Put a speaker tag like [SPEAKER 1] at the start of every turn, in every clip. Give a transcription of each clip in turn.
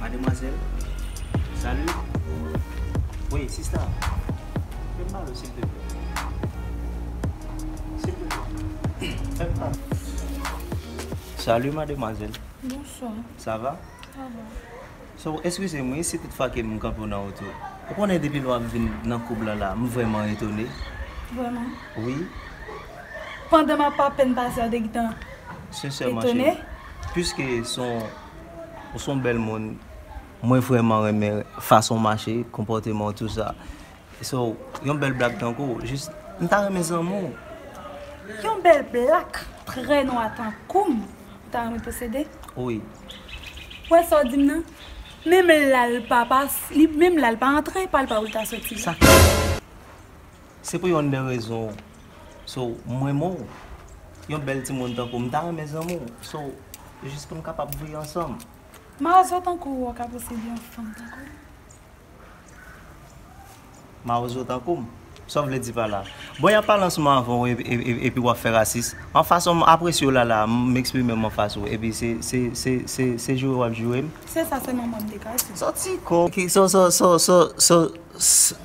[SPEAKER 1] Mademwazel Salut Wi sista Fem pale w silteple Silteple Fem pale Salut mademwazel Bonswa
[SPEAKER 2] Sa va? Sa va So eskize
[SPEAKER 1] m wi si tout fwa kem kanpe w nan oto Ou konnen depi lwa m vin nan koub lan la m vreman etone Vreman?
[SPEAKER 2] Wi Pandan map apenn pase a ou te gintan etone? Sinsèman cheri Piske
[SPEAKER 1] son Ou son bèl moun. Mwen vrèman renmen fason w mache, konpòteman w tou sa. So, yon bèl blak tankou w, jis, m ta renmen zanmi w. Yon
[SPEAKER 2] bèl blak trè nwa tankou m, ou ta renmen posede? Wi.
[SPEAKER 1] Ou wè
[SPEAKER 2] sa w di m nan? Menm lè l pa pa, menm lè l pa antre, pa l pa pou l ta soti. Sa k fè?
[SPEAKER 1] Se pou yonn de rezon w So m renmen w Yon bèl timoun tankou w m ta renmen zanmi w So jis pou n kapab vwe ansanm. Ma zo
[SPEAKER 2] tankou w ka posede yon fanm
[SPEAKER 1] tankou m? Ma zo tankou m? Sa w vle di pa la? Bon y ap pale an souman avè w epi w ap fè rasis? An fason m apresye w la la a m eksprime m an fas ou epi se joure w ap joure m? Se sa sèlman mwen m
[SPEAKER 2] te ka
[SPEAKER 1] di. Sòti kò w! Sa w.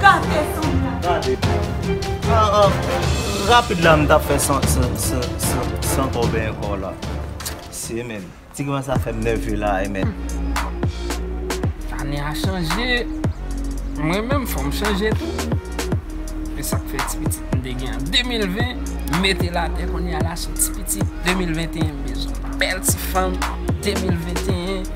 [SPEAKER 2] Gade son la. Gade.
[SPEAKER 1] Rapid la m tap fè san kòbe ankò la. Mesye men. Ti gwa sa fè m nève la e men.
[SPEAKER 3] Ane a chanje. Mwen menm fò m chanje tou. E sak fè ti pitit m te gen an 2020 m mete l atè kounya la son ti pitit 2021 m bezwen. Bèl ti fanm 2021.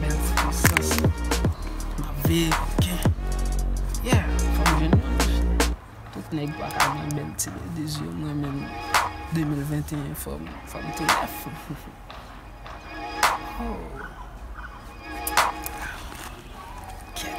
[SPEAKER 3] Bèl ti pwisans wi. Map veye koken. Yeah fòm jwenn yon wi cheri. Tout nèg paka gen bèl ti ladies yo mwen menm 2021 fòm fòm tou nèf Hoo Kèt.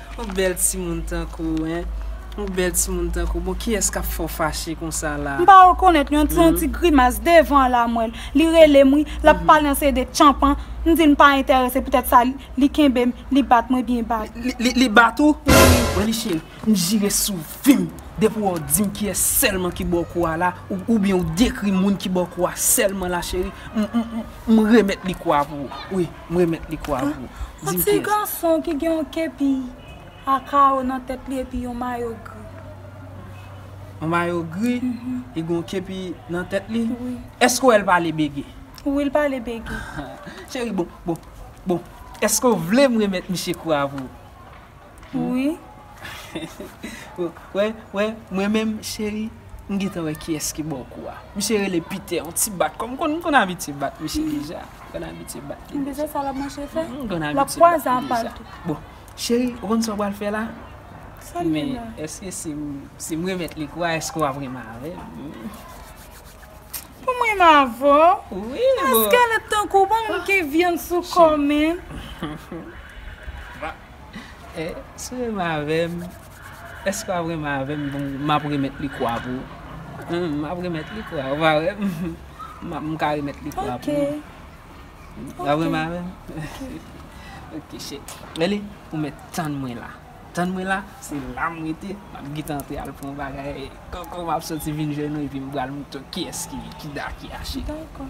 [SPEAKER 3] Ou bèl timoun tankou hein. Ou bèl timoun tankou bon kiyès kap fè w fache konsa la. M pa rekonèt yon son
[SPEAKER 2] ti grimas devan an la m wèl li relem wi lap pale an se de tchanpan m dil m pa entèrese poutèt sa li kenbem li bat mwen byen bal. Li bat ou?
[SPEAKER 3] Wi. Manmi cheri m jire sou vim depi wè w dim kiyès sèlman ki baw kou a la oubyen ou dekri moun ki baw kou a sèlman la cheri m remèt li kou a pou ou wi. M remèt li kou a pou ou. Di m kiyès. Yon ti gason
[SPEAKER 2] ki gen yon kepi a kawo nan tèt li epi yon mayo gri.
[SPEAKER 3] Yon mayo gri, li gen yon kepi nan tèt li? Wi. Èske w wè l
[SPEAKER 2] pale
[SPEAKER 3] bege? Wi, l pale
[SPEAKER 2] bege. Cheri, bon,
[SPEAKER 3] bon, bon, èske w vle m remèt misye kou a pou ou? Wi. Wè, wè, mwen menm cheri, m gentan wè kiyès ki bò kou a. Misye rele Piter, yon ti bat kò. M konn, m konn abitye bat misye deja. M konn abitye bat li deja. Mwen bezwen sa l ap mache
[SPEAKER 2] fè. M konn abitye bat li deja. L ap kwaze
[SPEAKER 3] apa l tou.
[SPEAKER 2] Bon, cheri,
[SPEAKER 3] ou konn sa w pral fè la? Sa m gen la? Men, èske si
[SPEAKER 2] m,
[SPEAKER 3] si m remèt li kou a, èske w ap renmen avè
[SPEAKER 2] m? Pou m renmen avè w? Wi, boo. Eskelèt tankou w ban m manke vyann sou kò w menm?
[SPEAKER 3] Eh si w renmen avè m Èske w ap renmen avè m Bon m ap remèt li kwa pou ou Humm m ap remèt li kwa ou pa wè m M ap m ka remèt li kwa pou ou Ok W ap renmen avè m Ok Ok cheri Eli ou mèt tann mwen la Tann mwen la Se la m rete M ap gentan antre al pran bagay Koko m ap soti vin jwenn ou epi m pral montre w kiyès ki da ki achi Dako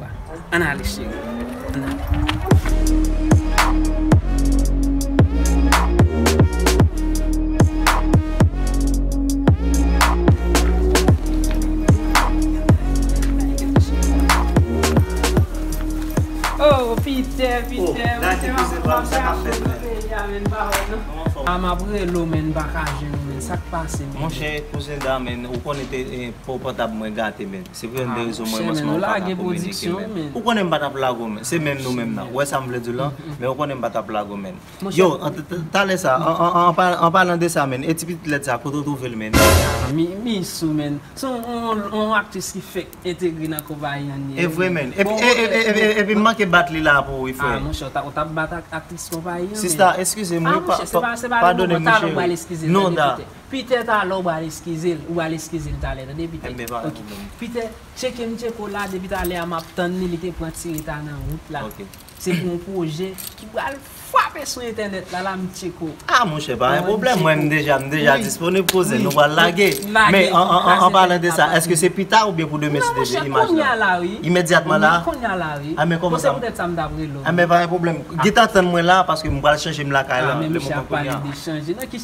[SPEAKER 3] Wa. Ann ale cheri. Ann ale. Oh Pitè, Pitè. Oh, Nati pou se pa
[SPEAKER 1] ou sa kap fèt menm. Kòman fò ou? A map
[SPEAKER 3] rele w men m pa ka jwenn ou men. Sa k pase menm? Monchè, kouzen
[SPEAKER 1] Dan men, ou konnen te, eh, po pòtab mwen gate menm. Se pou yon de rezon mwen an se mwen pa ka kominike menm.
[SPEAKER 3] Ou konnen
[SPEAKER 1] m pa
[SPEAKER 3] tap
[SPEAKER 1] lague w
[SPEAKER 3] menn.
[SPEAKER 1] Se menm nou menm nan. Ou wè sa m vle di w lan? Men ou konnen m pa tap lague w menn. Yo,
[SPEAKER 3] talè
[SPEAKER 1] sa, an palan de sa menn, e ti pitit lèd sa kote w twouve l menn? Misou
[SPEAKER 3] menn. Se yon aktris ki fèk entegre nan konpayi an li. E vre menn.
[SPEAKER 1] Epi m manke bat li la pou ou wi frè. A monchè, ou tap bat
[SPEAKER 3] aktris konpayi an menn. Sista, eskize m wi. A
[SPEAKER 1] monchè, se pa le moman. Talè ou pral eskize l. Non da. Peter talè ou
[SPEAKER 3] bal eskize l ou bal eskize l talè tande Peter Mwen pa wè pwoblèm
[SPEAKER 1] ok Peter
[SPEAKER 3] tcheke m tcheke w la depi talè a map tann li li te pran ti reta nan wout la ok se pou yon pwojè ki pral fwape sou entènèt la la m tcheke w ah monchè pa gen
[SPEAKER 1] pwoblèm mwen m deja m deja disponib pou ze nou pral lage men an palan de sa èske se pita oubyen pou demen si deje imaj la imedyatman la kounya la wi a men kòman sa bon se poutèt sa m tap rele w a
[SPEAKER 3] men pa gen pwoblèm
[SPEAKER 1] gentan tann mwen la paske m pral chanje m lakay la lè m pral
[SPEAKER 3] chanje nan ki.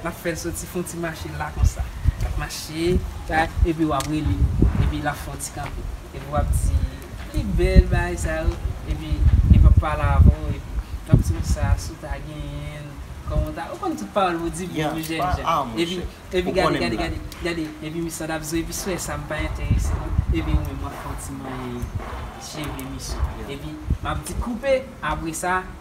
[SPEAKER 3] Lap fèl soti fon ti mache la konsa lap mache la epi wap rele epi lap fon ti kanpe epi wap di li bèl bagay sa yo epi li pap pale avè w epi lap di w sa si w ta genyenl kòman w ta ou konn tout pawòl pou di pou jèn jan epi epi gade gade gade gade epi misye ap di w epi sou wè sa m pa enterese non epi ou menm wap fon ti manyen cheve misye epi map di koupe apresa.